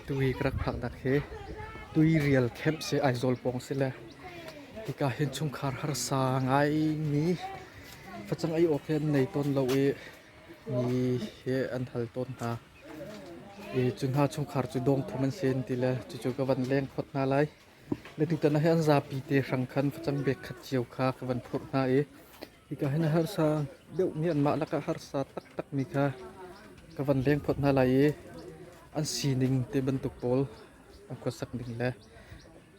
Atu hi ka rak hngalhnak hi tuirial camp si Aizawl pawng si le hika hin chungkhar harsa ngaimi facang ei awk hi an nei tawn lo i mi hi an hal tawn hna. I cu hna chungkhar cu dawngthum an si an ti le cucu ka van leng phot hna lai. Le tutan ah hin an zapi te hrang khan facang bek khat cio kha ka van phurh hna i Hika hin a harsa deuh Myanmar lakah harsa taktakmi kha ka van lengphawt hna lai i an sining te bantuk pawl an khuasak ning le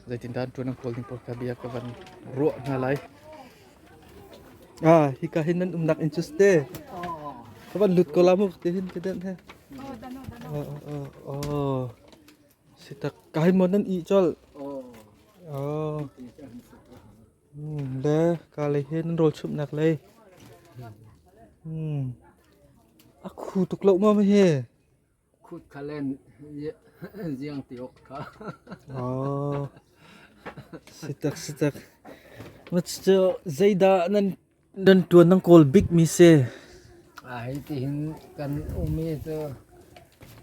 zeitindah an ṭuan an kawl ning pawl kha bia ka van ruah hna lai. Ah, hika hin nan umnak inn cu ste ka van lut ko la mu ti hin kedenh he. Oh, oh. Sitak kai mon nan i col. Oh. Le kaa lei hi nan rawlchumhnak lei hmm. a khu tuk lo maw hi? Khut khalen ziang tiok kha. Oh. Sitak sitak. Mach cu zeidah nan Nan ṭuan an kawl bikmi si. Ai tihin kan umi cu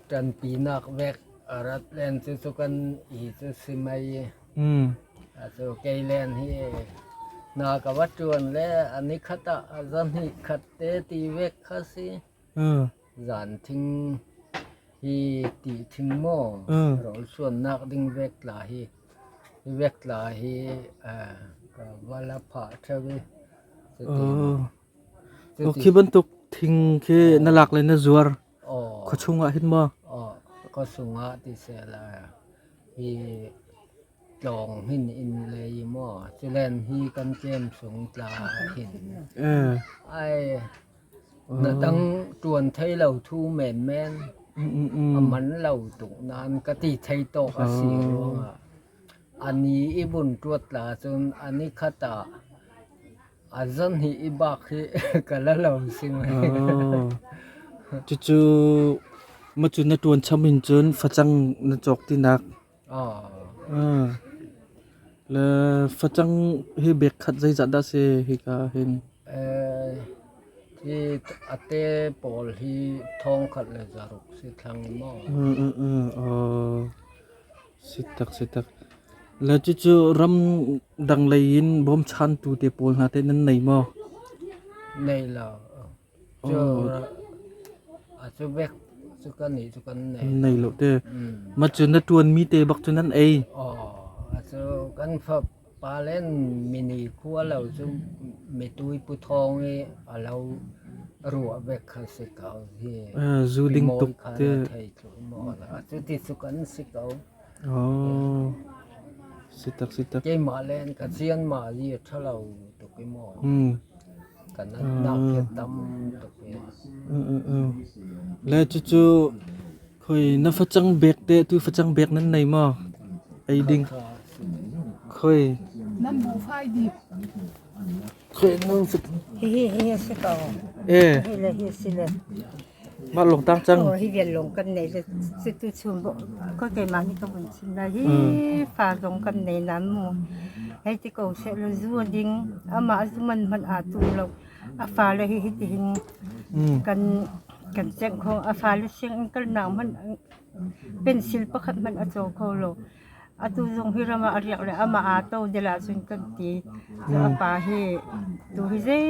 ṭanpinak vek a rat len cu cu kan i cu si mei. Mm. A cu kei len hi na ka va ṭuan le a ni khat ah a za hnih khat te ti vek kha si. Mm. Zanthing hi ti thing maw rolsuannak ding vektla hi hi vektla hi ka va la phah ṭheu i cutin khi bantuk thing khi na lak le na zuar khua chungah hin maw khua chungah ti se la hi tlawng hin in lei maw culen hi kan tlem sung tla hin ai Na dang ṭuan thei lo thu menmen a man lo tuk nain ka ti thei tawk a si ruangah a ni i vun ṭuat la cun a ni khat ah a zan hi i bak hi ka la lo si mei. Cucu macun na ṭuan cham in cun facang na cawk tinak Le facang hi bek khat zeizat dah si hika hin? Hi ate pawl hi thongkhat le zaruk si thlang maw? Sitak sitak. Le cucu ram dang lei in bawm chan tu te pawl hna te nan nei maw? Nei lo. Nei lo te. Ma cu na tuan mi te bak cu nan ei. Aw, kan fa palen mini khua lo cu mitui pu thong i a lo ruah vek kha si ko hi. Zu ding tuk te. Cu ti cu kan si ko. Keimah le ka cianmah hi a ṭha lo tuk i maw. Kan nakhiat tam tuk i. Le cucu khoi na facang bek te tu facang bek nan nei maw? Ei ding. Khoi. Nan bu fai di. Khoi nan facang. Hi hi hi si ko. Eh. Hi le hi si le. Mah lawng tang cang. Hi vial lawng kan nei le si tu chung ko keimah ni ka vun chim na hi fa lawng kan nei nan mu. Hei ti ko se lo zu ding amah zu man man a tu lo a fa le hi hi ti hin kan kan cheng kho a fa le sing in kal na man pencil pakhat man a cho kho lo atu zong hi rama a riak le ama a to de la sun kan ti a pa hi tu hi zei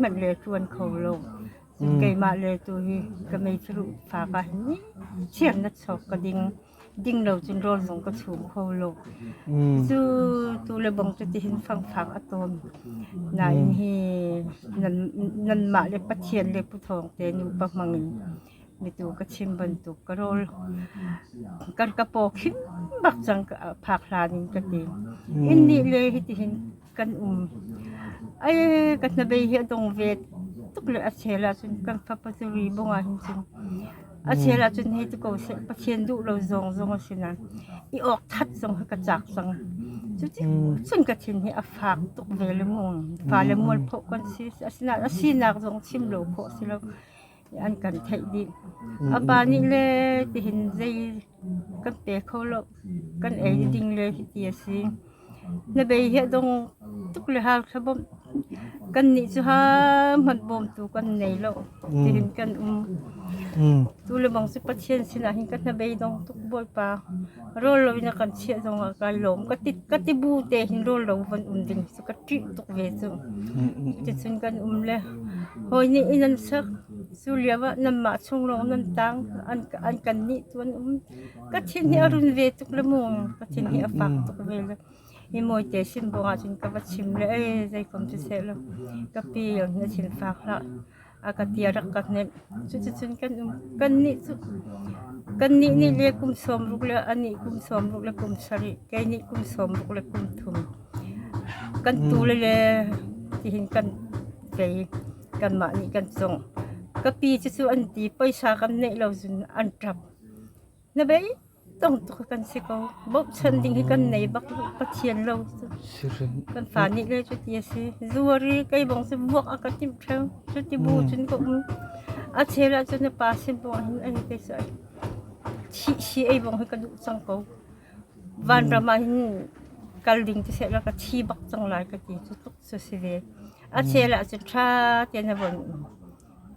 man le tuan kho lo keimah le tu hi ka meithiruh fa ka nih chiah na chawk ka ding ding lo cun rawl zong ka chum kho lo cu tu le bang cu tihin fangfang a tom nain hi nan mah le pathian le puthawng te nu pa mang in mi tu ka chim bantuk ka rol kan ka po khin bak chang phak hlan in ka ti in ni le hi tihin kan um. Ai ka hnabei hi a dong ve tuk le a chel ahcun kan fapa cu ri bungah hin cun a chel ahcun hi tu ko seh pathian duh lo zong zong a si na i ok that zong hi ka chak cang cu ti cun ka thin hi a fak tuk ve le mu fa le mual phoh kan si asina asinak zong chim lo phoh si lo an kan theih dih. A pa nih le tihin zei kan pe kho lo. Kan ei ding le hiti a si. Na bei hi dong tuk le hal kha bawm. Kan nih cu ha hmanh bawm tu kan nei lo. Tihin kan um. Tu le bang cu Pathian sinah hin kan na bei dong tuk Bawipa. Rawl lo in a kan chiah zong ah kaa lawm. Ka tibu tein rawl lo von um ding cu ka ṭih tuk ve cu. Cuticun kan um le hawi nih inn an sak. Cu lio ah nanmah chung lawng nan tang. An kannih tu an um. Pathin hi a run ve tuk le mu. Pathin hi a fak tuk ve le. Hi mawi te sin bawng ahcun ka va chim le, "Ei, zeikom cu seh law, ka pi in a thin fak hlah. a ka ti a rak ka hnemh. Cuticun kan um kannih cu kannih nih le kum sawm ruk le anih kum sawm ruk le kum sarih, kei nih kum sawm ruk le kum thum. Kan tule le tihin kan kei kanmah nih kan cungh. Ka pi cucu an ti, pawisa kan neih lo cun an ṭap. Na vei tong tuk kan si ko. Bochan ding hi kan nei bak lo. Pathian lo. Kan fa nih le cu ti a si. Zuari kei bong si muak a ka tim theo. Cu ti bu cun ko um. A cheu lah cun na pa sin bong hin an te sai. Thi si ei bong hi ka duh cang ko. Van ram ah hin kal ding ti se la ka thi bak cang lai ka ti cu tuk so si ve. A cheu lah cun tha te na von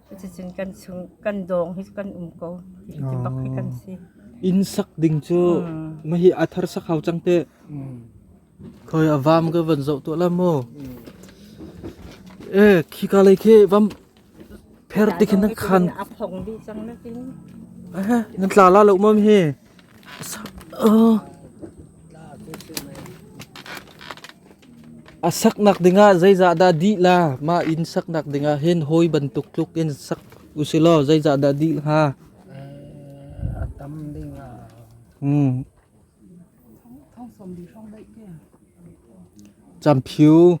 Cuticun kan chung kan dawng hi kan um ko ti bak hi kan si. Inn sak ding cu ma hi a thar sak hau cang te. Khoi a vam ka van zoh tuah la mu. Eh khika lei khi vam pher ti khin nan khan. A phong bi cang nakin. Ah nan tla la lo mom hi. A saknak dingah zeizahdah dih la? Mah in saknak dingah hin hawi bantuk tluk in sak usilaw zeizahdah dih hnga? A tam dingah. Camphyu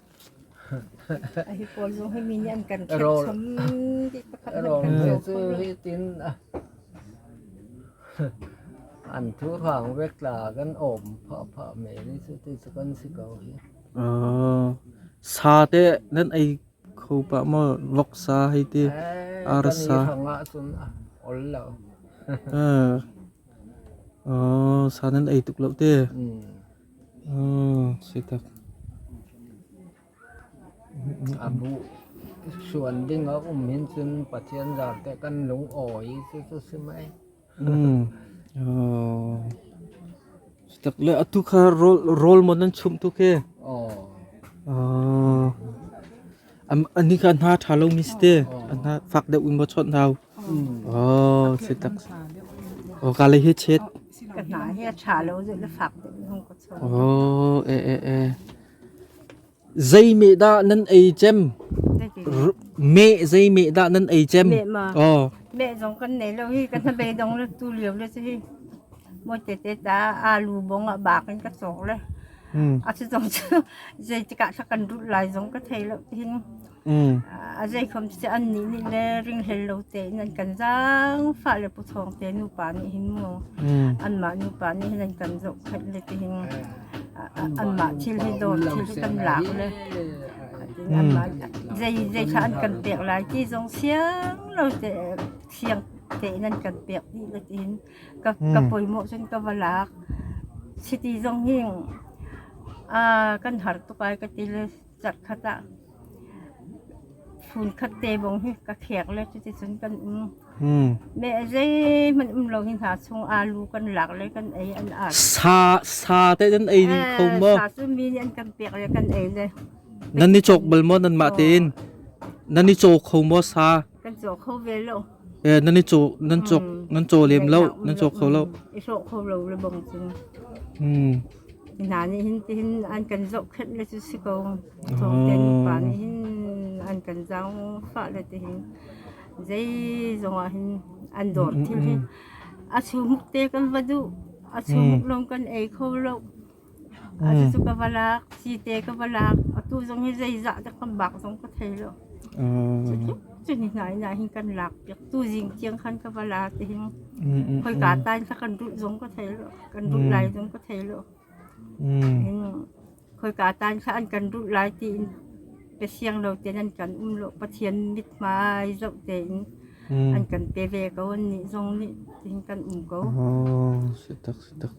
Rawngte cu hitin an thu hraang vek la kan awm phah phah me ni cu ti cu kan si ko hi. Sa te nan ei kho pah mo loksa hei ti arsa. Kan i hrangah cun ol lo. Sa nan ei tuk lo te. A hruan ding a um hin cun Pathian zarte kan lungawi cucu si mei. Stak le atu kha rawl rawl mon an chum tu ke. Oh. Ah. A ni kha hna ṭha lomi si te a hna fak deuh in maw chawnh hau. Oh, si tak. Oh, ka lei hi chet. Ka hna hi a ṭha lo zai la fak deuh hung ka chawnh. Oh, e e e. Zei me da nan ei cem? Me zei me da nan ei cem? Me ma. Oh. Me zong kan nei lo hi kan hnabei dong le tu liu le si hi. Mo te te ta alu bong a bak in ka chok le. a si zong cu zeitikah thla kan rulh lai zong ka thei lo tihin a zeikhom cu an nih nih le ringhel lo tein an kan zaangfah le puthawng te nupa nih hin mu anmah nupa nih hin an kan zohkhenh le tihin anmah thil hi dawt thil hi kan lak le anmah zei zei kha an kan pek lai ti zong siang lo te siang tein an kan pek dih le tihin ka, ka hmm. pawimawh cun ka va lak. City zong hi uh, kan har tuk ai ka ti le chak khat ah phun khat te bong hi ka khek le cuti cun kan um hmm. me zei man um lo hin ha chung alu kan lak le kan ei an ar sa sa te den ei ding kho mo sa su mi an kan pek le kan ei le nan ni chok bal mo nan ma tin nan ni cho kho mo sa nan i caw nan cawk nan caw lem lo nan cawk kho lo i hrawh kho lo le bang cun hna nih hin tihin an kan zohkhenh le cu si ko chawngte pa nih hin an kan zaangfah le tihin zei zongah hin an dor thim hi a chumuk te kan va duh a chumuk lom kan ei kho lo Cucu ka va lak, cite ka va lak. Atu zong hi zeizah te kan bak zong ka thei lo. Cucu ni hna ina hin kan lak piak. Tu zing tiang khan ka va la te hin. Khoika tain kha kan ruh zong ka thei lo. Kan ruh lai zong ka thei lo. Khoika tain kha an kan ruh lai ti in pe siang lo ten an kan um lo. Pathian mit hmai zoh te in an kan pe ve ko. Nih zong nih tihin kan um ko. Oh, si tak, si tak.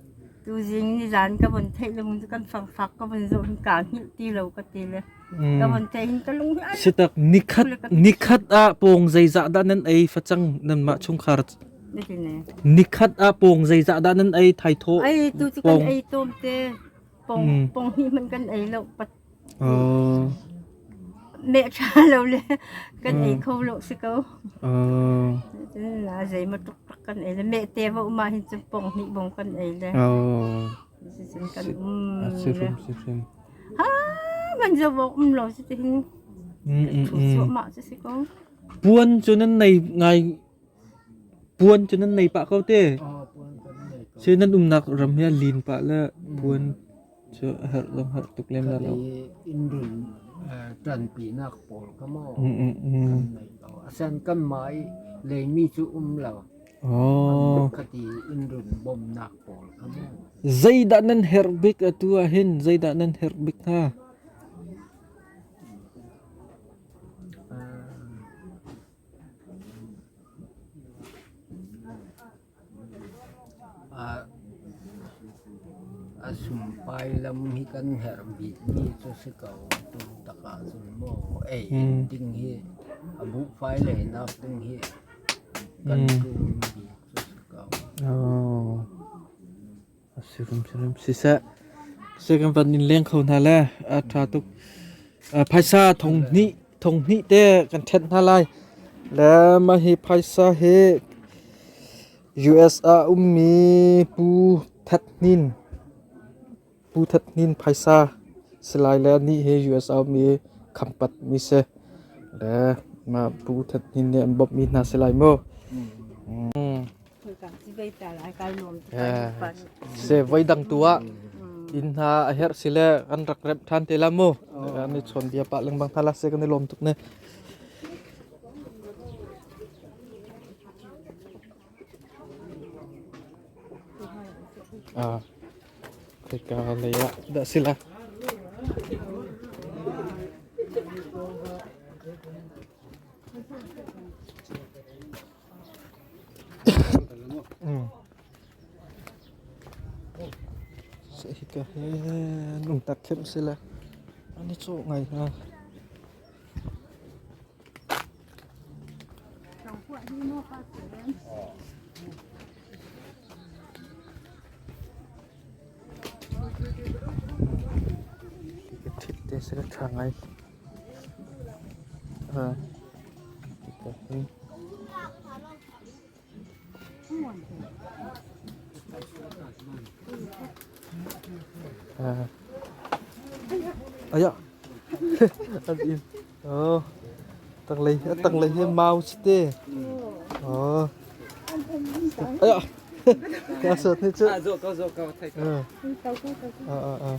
Tuzing nizaan ka von theih lung cu kan fangfak ka von zoh hin kaa hngilh ti lo ka ti le ka von theih hin ka lung hi ai Sitak nikhat nikhat ah pawng zeizah dah nan ei facang nanmah chungkhar niti ne nikhat ah pawng zeizah dah nan ei thaithaw ai tu cu kan Pong. ei tom te pong Mm. pong hi man kan ei lo pat Neh ṭha lo le kan ei kho lo si ko. Cun la zeimaw tuktak kan ei le meh te va um ah hin cu pong hnih bong kan ei le. Cucun kan um le. Ha man zo vok um lo si tihin. Thu suahmah si si ko. Puan cu nan nei ngai puan cu nan nei pah ko te. Sih nan umnak ram hi lin pah le puan Cu a herh lo hngalh tuk lem lo. Innrin ṭanpinak pawl kha maw kan neih lo. Asen kanmah i leimi cu um lo. Khat i innrin bawmnak pawl kha maw. Zeidah nan herh bik atu ah hin? Zeidah nan herh bik hnga? A sumpai lam hi kan herh bikmi cu si ko. Tungtak ahcun maw ei ding hi, a buhfai leinak ding hi kan tlun bik cu si ko. Si hrimhrim siseh, siseh kan van in leng kho hna le a ṭha tuk. Phaisa thong hnih thong hnih te kan ṭhen hna lai. Le mah hi phaisa hi US ah ummi Pu That Hnin Pu That Hnin phaisa si lai le nih hi US ah ummi khampat mi si. Le mah Pu That Hnin nih an bawmhmi hna si lai maw? se voi dang tu ah in hna a her si le an rak rep than te la mu an ni chon bia pa leng bang thala se kan ni lom tuk ne ah keka nei ya da sila Hika hi lungtak thiam a si le an i cawh ngai hna. Hika thit te a si le ṭha ngai. A in oh tanglei a tanglei hi mau si te oh aya ka sat ni chu ah ah ah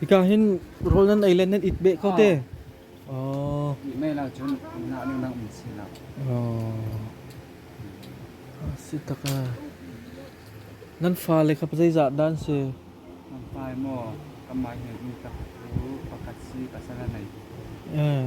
Hika hin rawl nan ei le nan it beh ko te. Oh. Mei lah cun nah ning nak min si lo. Oh. Si tak ah. Nan fale kha zeizat dan si? Nan fai maw? Kamah hi mi tak tu pakhat si pasal nei. Eh.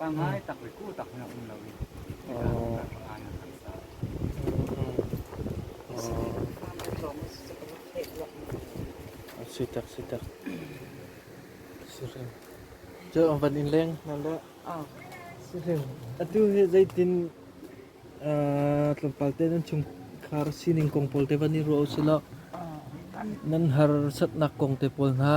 Pangai takuiku tak hmanh a um lo i hika hnu kan pangai an kan sa. A si tak si tak. Siring. Cu an van in leng na le. Siring. Atu he zeitin tlawmpal te nan chung khar sining kong pawl te van in ruah usih law nan har satnak kong te pawl hna.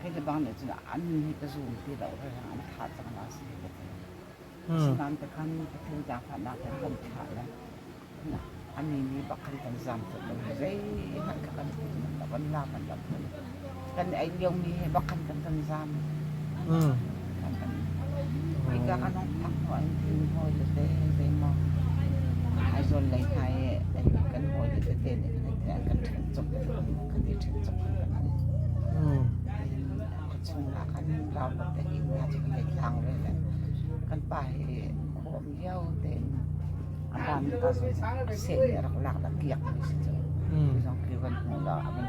Kei le bang nih cun an nih ka zum ti lo ralhrang an thah cang na si ka ti. Asinain tikhan ka thil daakhatnak he kan thlah le a ni ni bakhan kan zam tuk lo zei hmanh kha kan thil man lo kan la man lo kan ei lio ni he bakhan kan kan zam. Hika kan hong phak hnu ah hin hawi tete zeimaw Aizawl lei hna i kan hawile tete nih kan i an kan ṭhen cawk kan i ṭhen cawk an kan hmuh. Khuachung ah khan raunak te hi nga cu kan i tlang ve le kan pa hi khawm lio tein a ban mi pa zong seh nih a rak lak la kiak mi si cu. Zong khi van hmuh law a van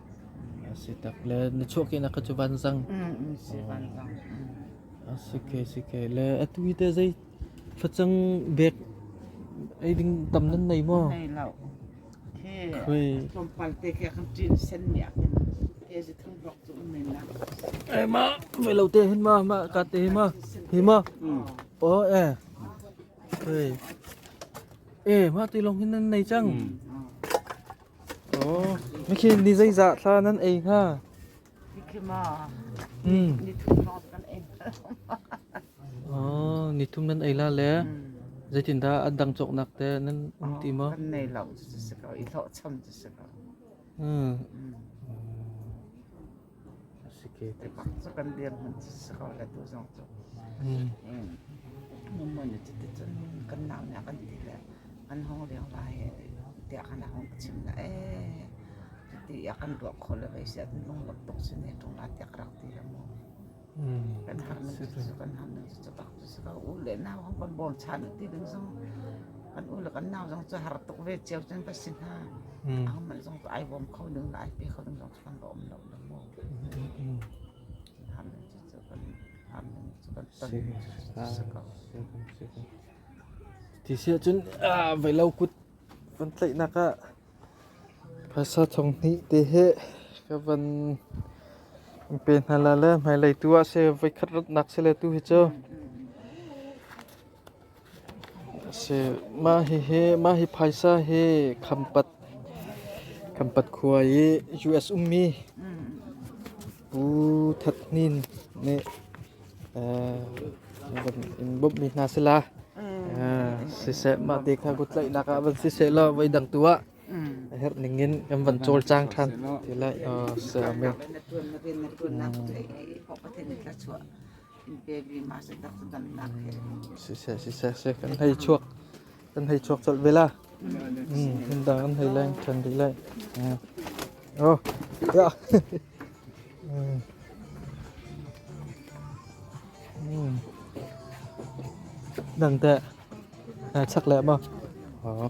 A si tak le na chuahkehnak kha cu vanzang. Mm, si vanzang. A si ke si ke le atu hi te zei facang bek ei ding tam nan nei maw? Nei lo. Khi Khoi. tlawmpal te kia kan tin sen nia kan te si thang blok tu men na. Ei ma ve lo te hin ma ma ka te ma hi ma. O e. Khoi. E ma ti long hin nan nei chang. Mikhin ni zeizah thla nan ei hnga? Nikhim ah nithum lawng kan ei. Nithum nan ei la le zeitindah an dang cawknak te nan um ti maw? Kan nei lo si ko, i hlawhcham si ko. Ka kan biak hmanh cu sakaw le tu zong cu mummun le cuti cun kan naam le kan ti le an hong riang la he tiah kana hong chim la ee cuti a kan ruah kho le vei siah lunglawm tuk cu ne ṭung la tiah ka rak ti le mu. Kan han nu cu cu kan han nu cu cu bak cu cu ka u le nau ho kan bol ṭhan ti ding zong kan u le kan nau zong cu har tuk ve cio cun ka si hna. Angmal zong cu ai bawm kho ding le ai pe kho ding zong cu kan va um lo lo mu. Kan han nu cu cu kan han nu cu kan ton cu cu ka u. Ti siah cun voi lo kut kan tlaihnak ah Phaisa thonghnih te hi ka van in pe hna la le hmailei tu ah seh voikhat ratnak si le tu hi cu asi. Mah hihi mah hi phaisa hi khampat khampat khua i US ummi Pu That Hnin nih in bawmhmi hna sila siseh mah te kha kutlaihnak ah van siseh law voi dang tu ah a herh ning in kan van cawlcang ṭhan ti lai men. siseh siseh kan hei chuak kan hei chuak colh ve la mm, dang an hei leng ṭhan dih lai mm. oh ya mm. mm. dang teh chắc lẹ mà đó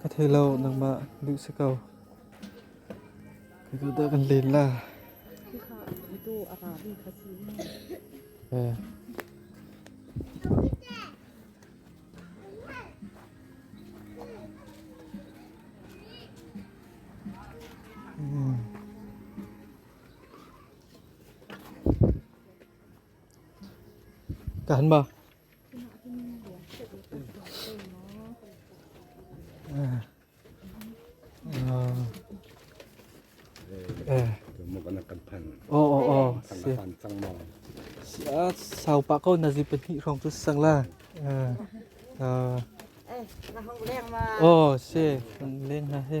Ka thei lo, nangmah duh si ko. Kai tu dah kan len la. Eh. Hmm. Kan ba. Oh oh oh. Si ah sau pa ko na zi pahnih hrawng cu sang la. Oh si leng na he.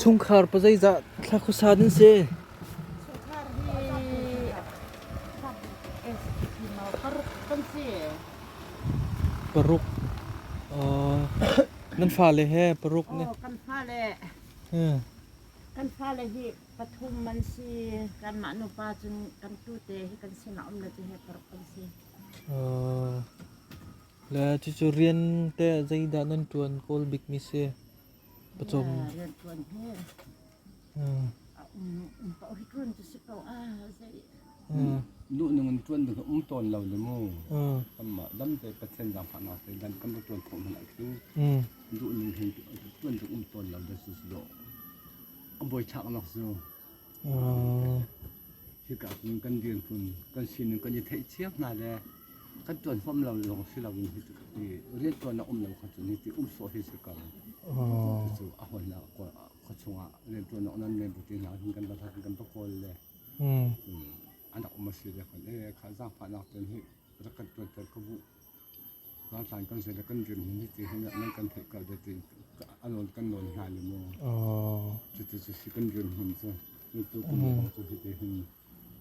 Chungkhar pa zeizah thla khuasa nan si? Paruk. Nan fale he paruk nih? Kan fale kan fale hi pathum an si. Kanmah nupa cun kan tute hi kan sinah um le ti he paruk kan si. Le cucu rian te zeidah nan ṭuan kawl bikmi si? Pacawm. Rian ṭuan hnu. A um paoh hi ṭuan cu si ko a zei. Nu nung in ṭuan ding um tawn lo le mu. Kanmah damte Pathian zaangfahnak te dan kan va ṭuan khawh hmanh ah khi. Duh ning hin ṭuan ding um tawn lo da su su do. A boi chak nak su. Hika hmun kan dirhmun kan sining kan i theih cio hna le kan ṭuan huam lo lawng si loin hi cu hi rianṭuan a um lo kha cun hi ti um sawh hi si ko. Cucu a hawn ah khuachung ah rianṭuan awk nan men buti hna hin kan va hlat kan va kawl le an rak um a si le kan ee kha zaangfahnak ten hi rak kan ṭuanter ko bu Ralhrang kan si le kan dirhmun hi tihin nan kan theih ko deh ti kan nawn hna le maw? Cuti cu si kan dirhmun cu tu kum lawng cu hi tihin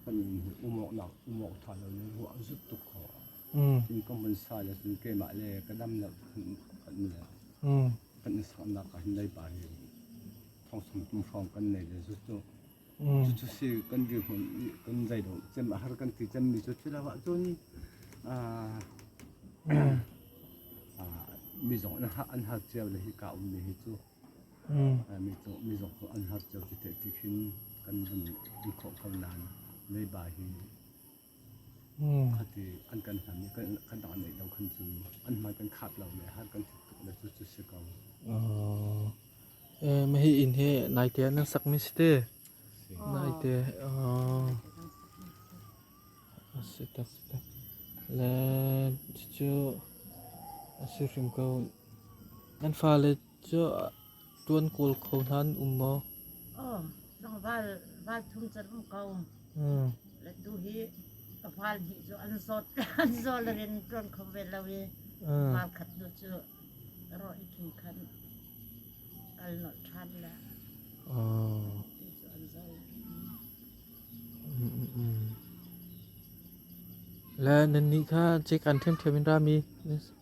kan in umawknak umawk tha lo le ruah zut tuk kho. Tin kan vun sa le cun keimah le ka dam lo kan le kan i saknak ah hin leipa hi thongsong tum hrawng kan nei le zut cu Cucu si kan dirhmun kan zeido cem a har kan ti cemmi cu thil ah cun mi zong an har cio le hi ka ummi hi cu mi zong cu an har cio ti te ti khin kan vun in khawh ko nain leiba hi Khati an kan hlan i kan dang an neih lo khan cun an hmai kan khat lo le har kan ṭhut tuk le cu cu si ko. Mahi inn hi naite ah nan sakmi si te. Naite. Si te si te. Le cucu a si hrim ko. An fale cu Ṭuan kawl kho hna an um maw? Aw, val thum can um ko. Latu hi ka val nih cu an zawt an zawl rin ṭuan kho ve lo i val khat nu cu ro i khi khan kal nolh ṭhan le ti cu an zawl. Le nannih kha cik an ṭhiamṭhiam in rami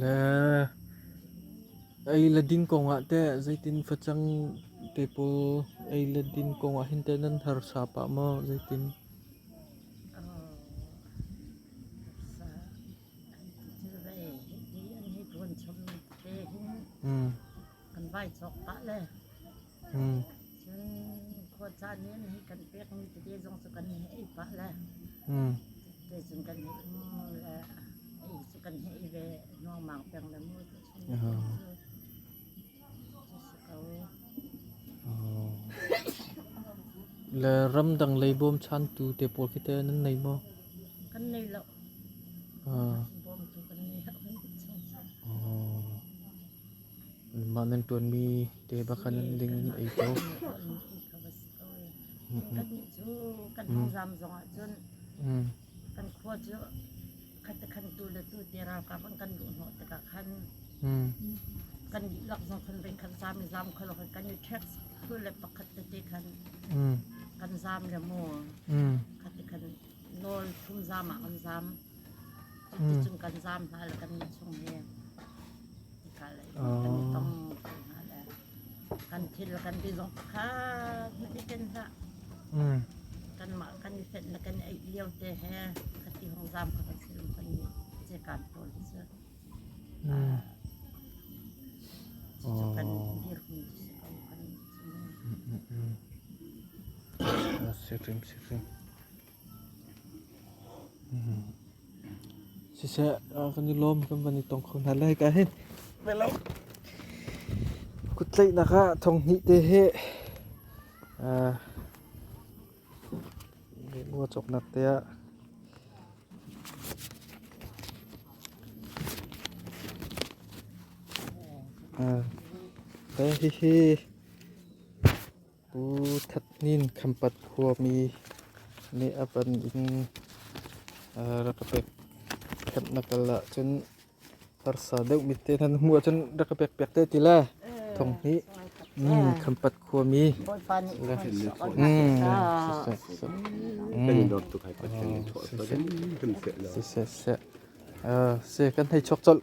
Le ei le din kongah teh zeitin facang te pawl ei le din kongah hin teh nan harsa pah maw zeitin? Kan vai chawk pah le Khuacaan nih nihin kan pekmi tete zong cu kan nih ei pah le, tete cun kan nih mu le ei cu kan nih ei ve nuangmang peng le mu cu si ko. Le ramdang lei bawmchantu te pawl khi te nan nei maw? Kan nei lo. Bawmtu kan nei lo. Mah nan ṭuanmi te ba khan ding in ei ko. Kannih cu kan hawizam zong ahcun kan khua cu khatekhan tu le tu te ralkap an kan luh hnawh tikah khan kan dihlak zong khan voi khat zam i zam kho lo kan i ṭhek tu le pakhat tete khan kan zam le maw khatekhan nawl thum zam ah an zam. Cuticun kan zam hna le kan innchung hi hika lei kan i tong kho hna le kan thil le kan ti zong pakhat hmati ken hlah. Kanmah kan i fenh le kan i eih lio te he khati hong zam kho kan si lo kan i cekan tawl cu. Cucu kan dir hmun si ko kan si. Sirim sirim. Siseh, kan i lawm kan van i tong kho hna lai ka hin. Kuttlaihnak ah thong hnih te he ngua cawknak te ah hihi Pu That Nin Khampat khuami nih a van in rak ka pek khenh na kal ahcun harsa deuhmi te nan hmuh ahcun rak ka pekpiak te ti le thong hi Khampat khuami kan i lawm tuk hai pat kan i thuah pa kan se kan hei chok colh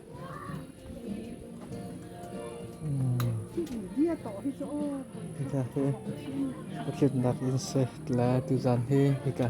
Hika hi hriamnak inn si le tuzan hi hika hi a ṭha tuk.